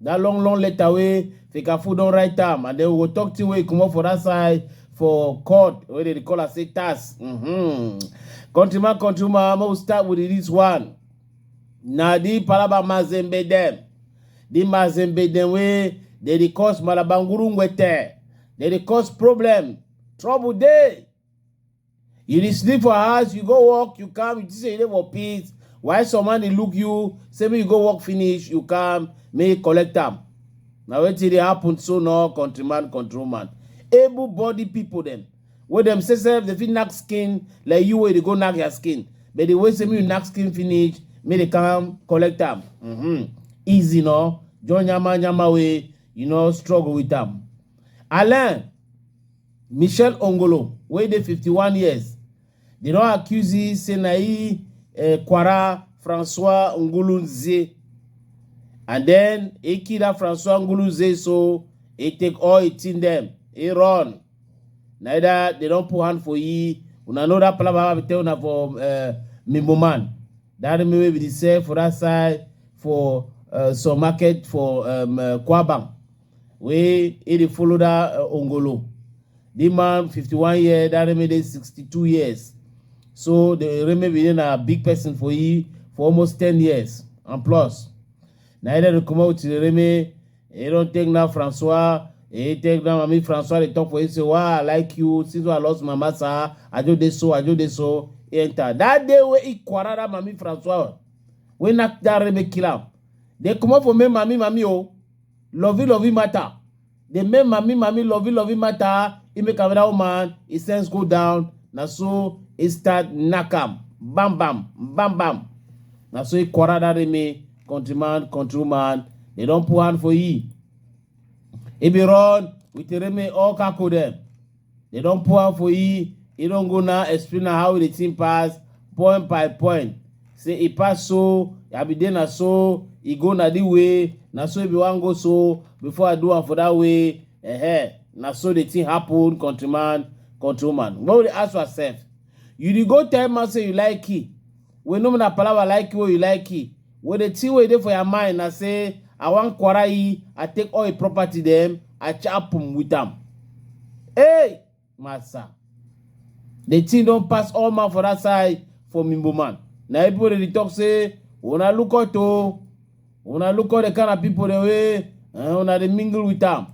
That long long letter wey Fekafu don write am and then we go talk thing wey comot for that side for court wey dey call am say tax. Mm-hmm. Countryman, countryman, make we start with this one. Na the Palaba Mazembe dem. The Mazembe dem wey dey dey cause Malabanguru Ngwete. Dey dey cause problem. Trouble dey. You dey sleep for house, you go work, you come, you think say you dey for peace. Why some man dey look you, say make you go work finish, you come, make you collect am. Na wetin dey happen so no countryman, control man. Able body people dem, wey dem say sef dey fit knack skin like you wey dey go knack your skin. But the way say make you knack skin finish, make they come collect am. Mm-hmm. Easy no, join yama yama way, you know, struggle with am. Alain michelle ongolo wey dey 51 years dem don accuse e say na e eh, kwara francois ngulunze and then e kill that francois ngulunze so e take all e thing dem e run neither they don put hand for ye una know that palava we tell una for uh, mimbo man that remain wey we dey sell for that side for uh, some market for um, uh, kwabam wey he dey follow that uh, ongolo the man 51 year that remain dey 62 years so the remain be na big person for he for almost 10 years and plus na he dey comot with the remain he don take now francois he take now mami francois dey talk for him say why i like you since wey i lost my master i just dey so i just dey so he enter that day wey he quarrel that mami francois wey knack that remain kill am dey comot for me mami mami o. Oh. Lovey lovey matter. The men mami mami lovey lovey matter. He make another woman, his sense go down. Na so he start knack am. Bam bam, bam bam. Na so he quarrel that me countryman, countrywoman. They don put hand for he. He be run with Remy all kako them. They don pour am for e, e don go now explain am how the thing pass point by point. Say e pass so, I be dey na so, e go na the way, na so e be wan go so, before I do am for that way, eh na so the thing happen, countryman, countrywoman. When we dey ask ourselves, you dey go tell man say you like key, We know na palava like you wey you like it. Wey the thing wey e dey for your mind na say I wan kwara yi, I take all e property dem, I chop um with am. Hey! Massa. The thing don pass all man for that side for Mimbo man. Na e people dey dey talk say una look out o. Una look out the kind of people dem wey eh, una dey mingle with am.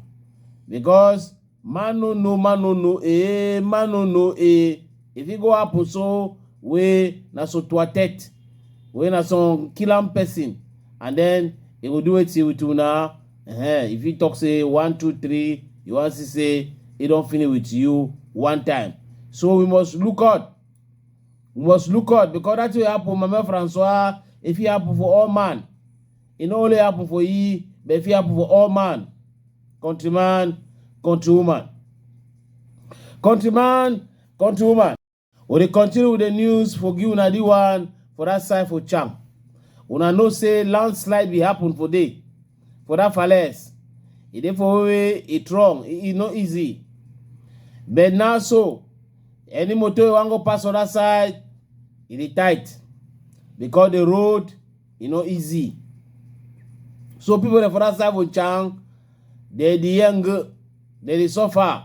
Because Man no know, man no know, eh, man no know, eh. If it go happen so, we na so to attack, we na some killing person, and then he go do it with you now. Uh-huh. If he talk say one, two, three, you want to say he don't finish with you one time. So we must look out. We must look out because that will happen, Mama Francois, if it happen for all man. e no only happen for e but e fit happen for all man countryman countrywoman countryman countrywoman we dey continue with the news for give una the one for that side for cham una know say landslide be happen for day for that falaise e dey for wey e strong e no easy but now so any motor wey wan go pass other side e dey tight because the road e no easy so people dey for that side for chang dey dey young dey dey suffer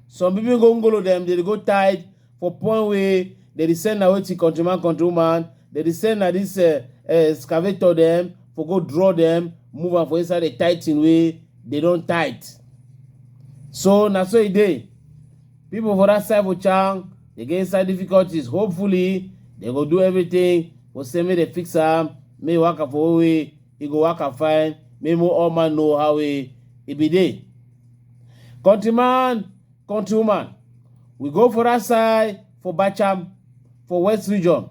some people go ngolo dem dey dey go tight for point wey dey dey send na wetin countryman countrywoman dey dey send na this uh, uh, excavator dem for go draw dem move am for inside the tight thing wey dey don tight so na so e dey people for that side for chang Dey get inside difficulties, hopefully dem go do everything for say make dem fix am, make e waka for one way, e go waka fine, make mo all man know how e e be dey. Countryman, countrywoman, we go for that side for Bacham for West Region.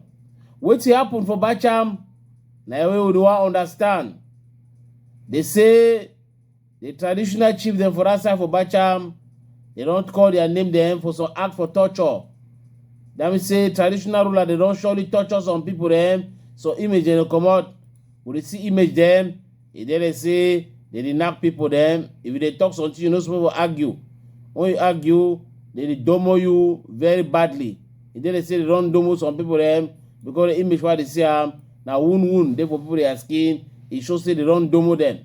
Wetin happen for Bacham na wey we dey wan understand. Dey say The traditional chief dem for that side for Bacham, they don call their name dem for some act for torture. That means say traditional ruler they don surely torture some people dem. So image dem dey comot. We dey see image dem. E dey dey say they dey knack people dem. If you dey talk something, you no suppose to argue. When you argue, they dey domo you very badly. E dey dey say they don domo some people dem because the image wey I dey see am na wound wound dey for people their skin. E show say they don domo dem.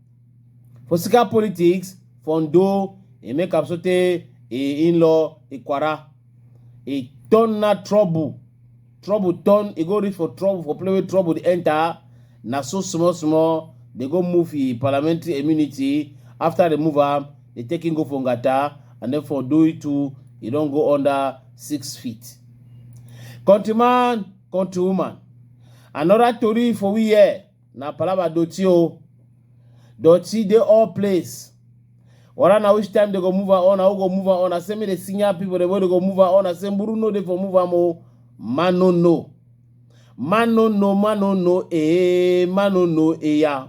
For Sika politics, Fondo, he make up sote, he in-law, he kwara. He turn na trouble. Trouble turn, he go reach for trouble, for play with trouble, they enter. Na so small, small, they go move the parliamentary immunity. After they move am, they take him go for Ngata, and then for do it too, he don't go under six feet. Countryman, countrywoman, another story for we here. Na palava doti o. Doti dey all place. Wara na which time they go move am on, na who go move am on. I say me dey senior people, the way they go move am on. I say Mburu no dey for move am o. Man no know. Man no know, man no know, eh, man no know, eh, yeah.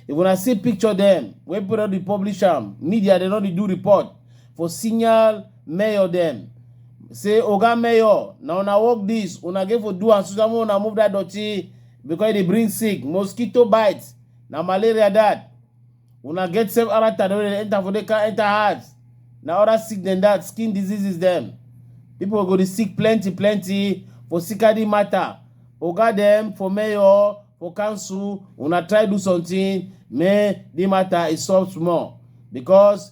If una see picture dem, wey people don dey publish am, media dem don dey do report for senior mayor dem. Say, Oga Mayor, na una work this, una get for do am so that when una move that dirty, because e dey bring sick mosquito bite na malaria that una get same character wey dey enter for dey can enter heart na other sick than that skin diseases dem people go dey sick plenty plenty for sikadi matter oga dem for mayor for council una try do something make the matter e solve small because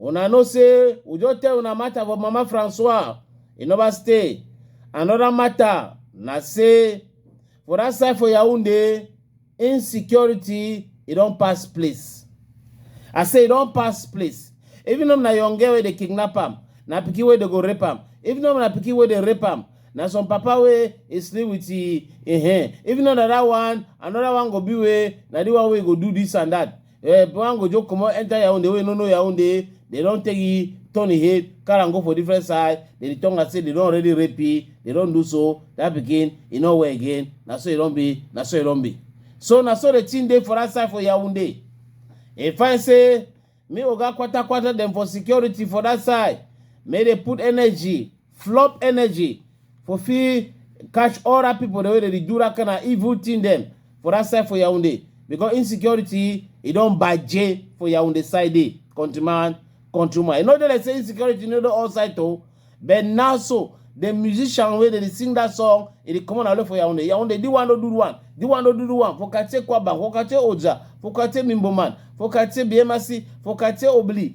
Una know say we just tell una matter for Mama Francois, e never stay. Another matter na say for that side for Yaoundé, insecurity e don pass place. I say e don pass place. Even if na young girl wey dey kidnap am, na pikin wey dey go rape am. Even if na pikin wey dey rape am, na some papa wey e sleep with e e hen. Even if na that one, another one go be wey na the one wey go do this and that. Eh, one go just comot enter Yaounde wey no know Yaounde, they don take e turn e head, carry am go for different side, they dey talk am say they don already rape e, they don do so, that pikin, e no well again, na so e don be, na so e don be. So na so the thing dey for that side for Yaounde. E find say, me Oga Kwata Kwata dem for security for that side, make they put energy, flop energy for fit catch all that people the way they dey do that kind of evil thing dem for that side for Yaoundé because insecurity e don baje for Yaoundé side dey country man country man e no dey like say insecurity no dey all side o but now so the musician wey dey dey sing that song e dey comot na only for Yaoundé Yaoundé di one no do one di one no do do one for Katie Kwaba for Katie Oja for Katie Mimboman for Katie Biemasi for Katie Obli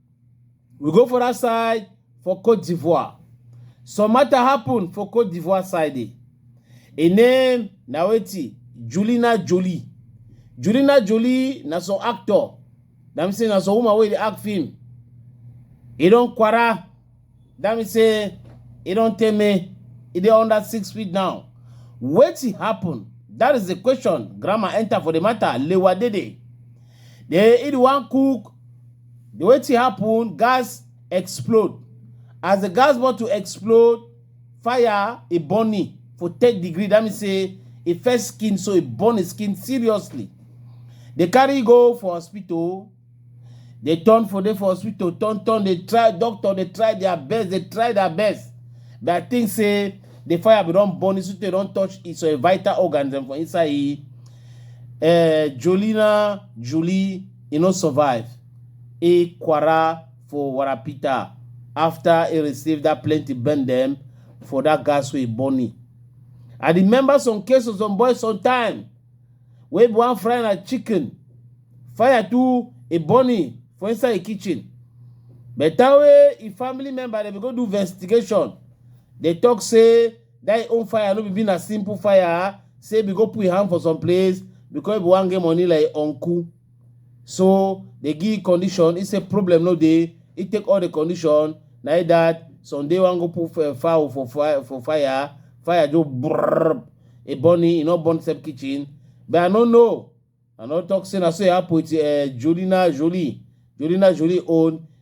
We go for that side for Cote d'Ivoire. Some matter happen for Cote d'Ivoire side. eh. E name na wetin Julina Jolie. Julina Jolie na some actor. That mean say na some woman wey dey act film. E don kwara That means say e don tell me e dey under six feet now. Wetin happen? That is the question. Grandma enter for the matter. Lewa Dede. They eat one cook. The wetin happen? Gas explode. As the gas bottle explode, fire e burn me for third degree. That means say e first skin so e burn his skin seriously. They carry go for hospital. dey turn for dey for hospital turn turn dey try doctor dey try their best dey try their best but i think say the fire bin don burn so tey don touch e some vital organs dem for inside e eh, jolina julie e no survive e kwara for warapita after e receive that plenty burn dem for that gas wey e burn e i remember some cases some boys sometime wey be wan fry na chicken fire too e burn him for inside e kitchen better wey e family member dem go do investigation dey talk say that e own fire no be be na simple fire say be go put him hand for some place because e be wan get money like e uncle So dey give condition, e say problem no dey, e take all the condition, na it that Sunday wan go put uh, fowl for fire, for fire, fire just brrrr, e burn him, e no burn same kitchen, but I no know, I no talk say na so e happen with uh, Jolina Jolie, Jolina Jolie own,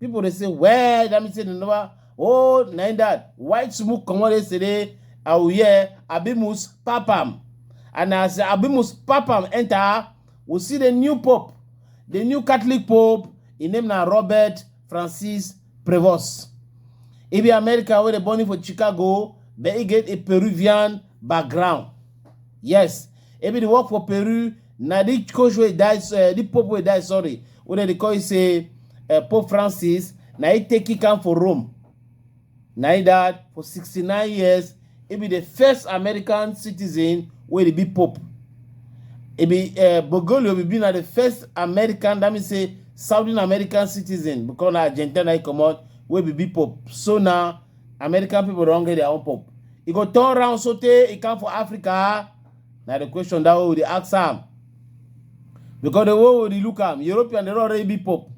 people dey say well that mean say dem never oh na im that white smoke comot yesterday i will hear abimus papam and as abimus papam enter we see the new pope the new catholic pope im name na robert francis prevost e be america wey dey born him for chicago but e get a peruvian background yes Ebi dey work for Peru. Na the coach wey die, uh, the pope wey die, sorry, wey dem dey call say uh, Pope Francis. Na he take kick am for Rome. Na he died for 69 years. He be the first American citizen wey dey be pope. He be uh, Bergoglio be be na the first American, that means say Southern American citizen because na Argentina he comot wey be be pope. So na American people don't get their own pope. He go turn around so tey he come for Africa. Now the question that we dey ask am. Because the way we dey look am, European they don already be pope.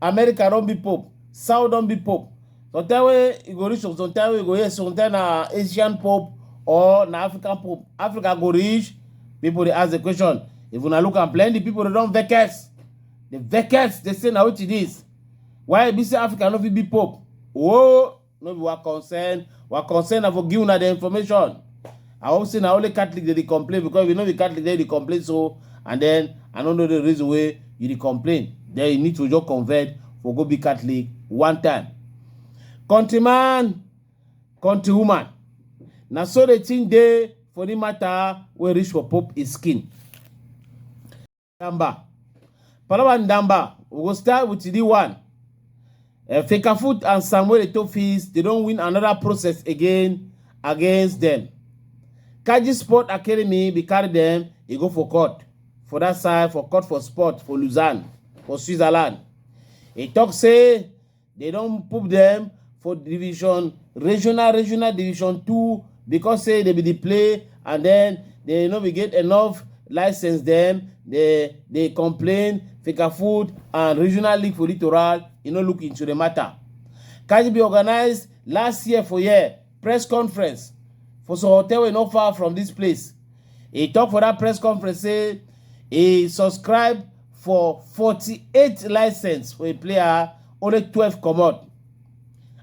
America don't be pope. South don't be pope. Sometimes wey you go reach sometimes wey you go hear sometimes na Asian pope or na African pope. Africa go reach. People they ask the question. If una look am plenty people they don't vex. The vex they say now what it is. why e be say africa no fit be pope oh no be wa concern wa concern na for give una the information i hope say na only catholic dey dey complain because if you no be catholic then you dey complain so and then i no know the reason wey you dey complain then you need to just convert for go be catholic one time countryman countrywoman na so the thing dey for the matter wey reach for pope his skin Ndamba. Palaba Ndamba, we go start with the one. Uh, Fekafoot and Samuel Etofis, they don't win another process again against them. Kaji Sport Academy, we carry them, they go for court. For that side, for court for sport, for Lausanne, for Switzerland. He talk say, They don't put them for division regional regional division two because say they be the play and then they no be get enough license them they they complain fika food and regional league for littoral you know look into the matter. Kaji be organized last year for year press conference for some hotel wey no far from this place He talk for that press conference say he subscribe for 48 license wey player only 12 comot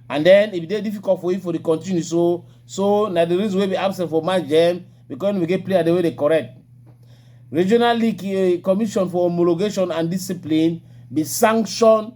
and then e dey difficult for him for the continue so so na the reason wey be absent for match dem because we get player the way they correct regional league eh, commission for homologation and discipline be sanction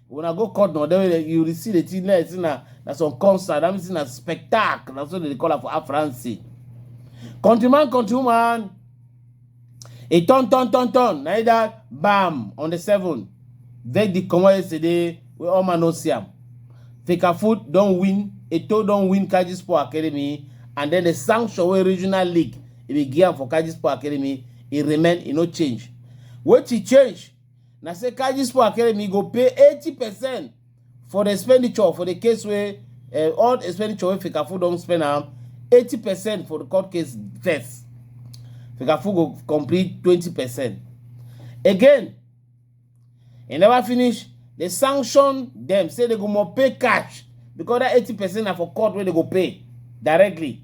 una go court na there wey you receive the thing like say na na some concert that means na spectacle na so they dey call am for afransi countryman countrywoman e turn turn turn turn na either bam on the seven verdict comot yesterday wey all man no see am fecafoot don win eto don win kaji sport academy and then the sanction wey regional league e dey give am for kaji sport academy e remain e no change wetin change na say Kajispo Academy go pay 80 percent for the expenditure for the case where uh, eh, all expenditure wey Fikafu don't spend am 80 percent for the court case first. Fikafu go complete 20 percent. Again, e never finish, they sanction them say they go more pay cash because that 80 percent are for court where they go pay directly.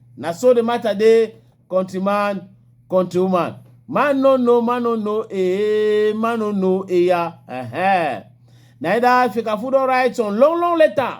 Na so the matter dey, countryman, countrywoman. Man no know, man no know, eh, man no know, eh, yeah. Uh-huh. Neither Fekafu don write some long, long letter.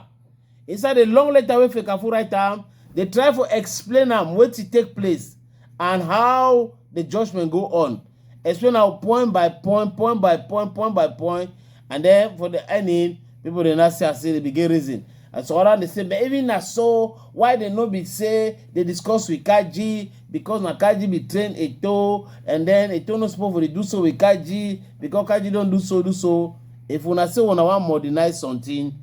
Inside the long letter wey Fekafu write am, they try for explain am wetin take place and how the judgment go on. explain now point by point point by point point by point and then for the ending people dey not see as say they begin reason and so other dey say but even na so why they no be say they discuss with kaji because na kaji be train eto and then eto no suppose for dey do so with kaji because kaji don do so do so if una say una wan modernize something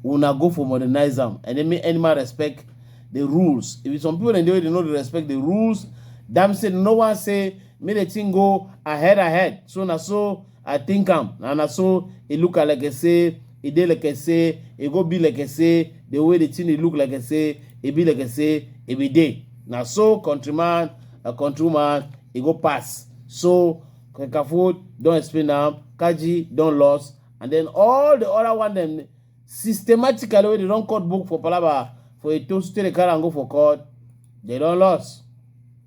una go for modernize am and then make animal respect the rules if some people dem dey wey dey no dey respect the rules damn say no one say make the thing go ahead ahead so na so i think am and na so e look am like say e dey like say e go be like say the way the thing dey look like say e be like say e be dey na so countryman and countrywoman e go pass so kakafood don explain am kaji don lost and then all the other one dem systematically wey dey don cut book for palaba for eto state dey carry am go for court dey don lost.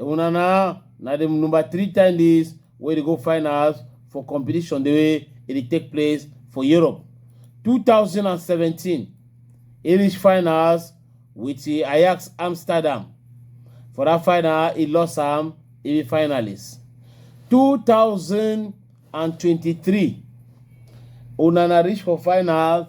Una na na the number three time this wey dey go finals for competition the way e dey take place for Europe. 2017 e reach finals with the Ajax Amsterdam. For that final e lost am e be finalist. 2023 Onana reach for final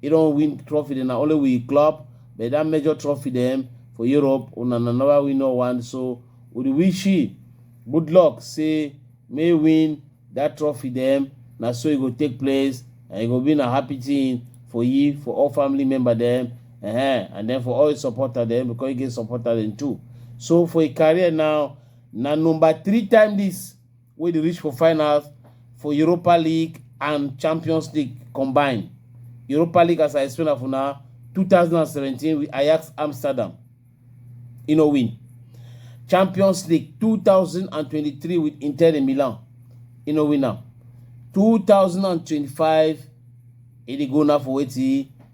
He don win trophy dem na only we club but that major trophy dem for Europe una na never win no one so we dey wish you good luck say may win that trophy dem na so e go take place and e go be na happy thing for you for all family member dem uh-huh. and then for all your supporter dem because you get supporter dem too so for your career now na number three time this wey dey reach for finals for Europa League and Champions League combine. Europa League as I explain am for una two thousand and seventeen with Ajax Amsterdam e no win. Champions League two thousand and twenty-three with Inter de Milan e no win am. Two thousand and twenty-five e dey go now for wetin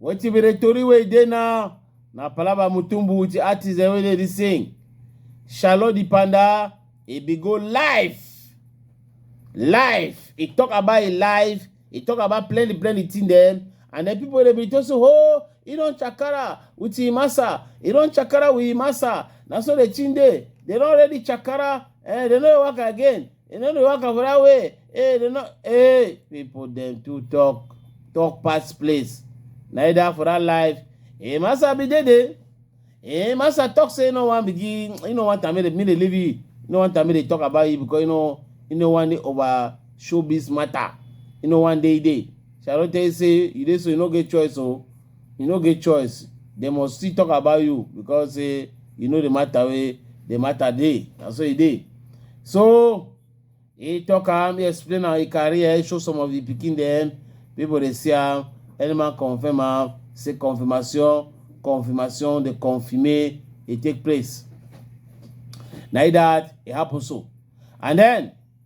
Wetin be the tori wey e dey now? Na palava Mutumbu with the artist dem wey dey dey sing. Charlotte the Panda, e be go live. Live. E talk about e life. E talk about plenty plenty thing dem. And then people dey be talk say, oh, e don chakara with him massa. E don chakara with him massa. Na so the thing dey. They don already chakara. Eh, they no dey work again. You know the work for that way. Hey, they not hey people them to talk talk past place. Neither for that life. Hey, massa be dead. Hey, massa talk say no one begin. You know what I mean? Me they leave you. You know what I mean? They talk about you because you know you know one day over showbiz matter. You know one day day. Shall I tell you say you dey so you no get choice oh. you no get choice dem must still talk about you because say eh, you know the matter wey the matter dey na so e dey so he talk am he explain am he carry am he show some of the pikin dem people dey see am anyman confirm am say confirmation confirmation dey confirme e take place na that e happen so and then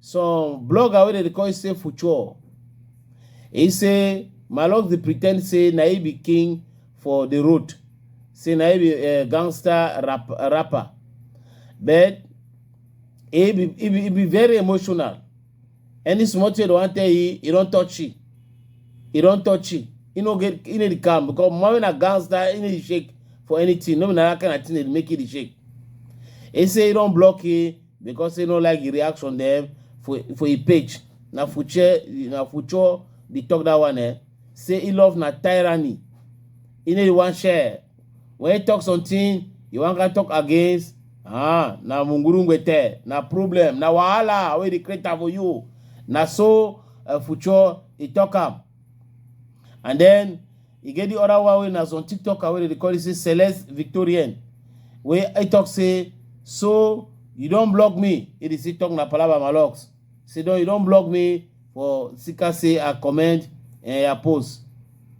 some blogger wey dem dey call say Fuchor, he say Maalox dey pretend say na he be king for the road, say na he be uh, gangster rap, rapper, but he be, he be he be very emotional. Any small thing they wan tell you, he don touch you, he don touch you. He no get, he no dey calm because man wey na gangster, he no dey shake for anything. No be na that kind of thing dey make he dey shake. He say he don block you. because say no like the reaction dem for for e page na future na future dey talk that one eh say he love na tyranny he no dey wan share when he talk something he wan can talk against ah na mungurungwete na problem na wahala wey dey create am for you na so uh, future he talk am and then e get the other one wey na some tiktoker wey dey call it say celeste victorian wey i talk say so you don block me e dey still talk na palava my locks say don you don block me for sika say i comment and eh, i post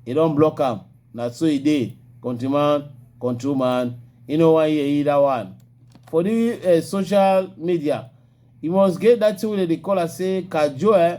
e don block am na so e dey country man control man e no wan hear either one for the uh, social media you must get that thing wey dem dey call am say kajo eh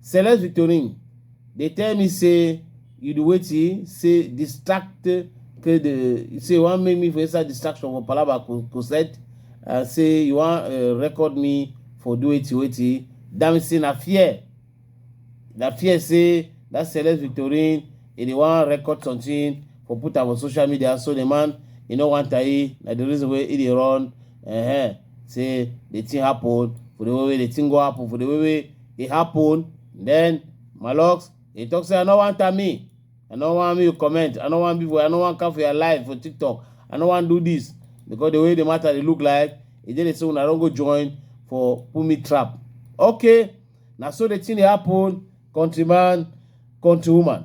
Celeste Victorine, they tell me say you do wetin say distract okay the say you wan make me for inside distraction for palaba crusade and say you wan uh, record me for do wetin wetin damn say na fear na fear say that celeste victorine e dey wan record something for put am for social media so the man e no wan tayi na the reason wey e dey run uh -huh. say the thing happen for the way wey the thing go happen for the way wey e happen then malox e talk say i no wan tell me i no wan make you comment i no wan be for i no wan come for your life for tiktok i no wan do this because the way the matter dey look like e dey dey say una don go join for put me trap okay na so the thing dey happen countryman countrywoman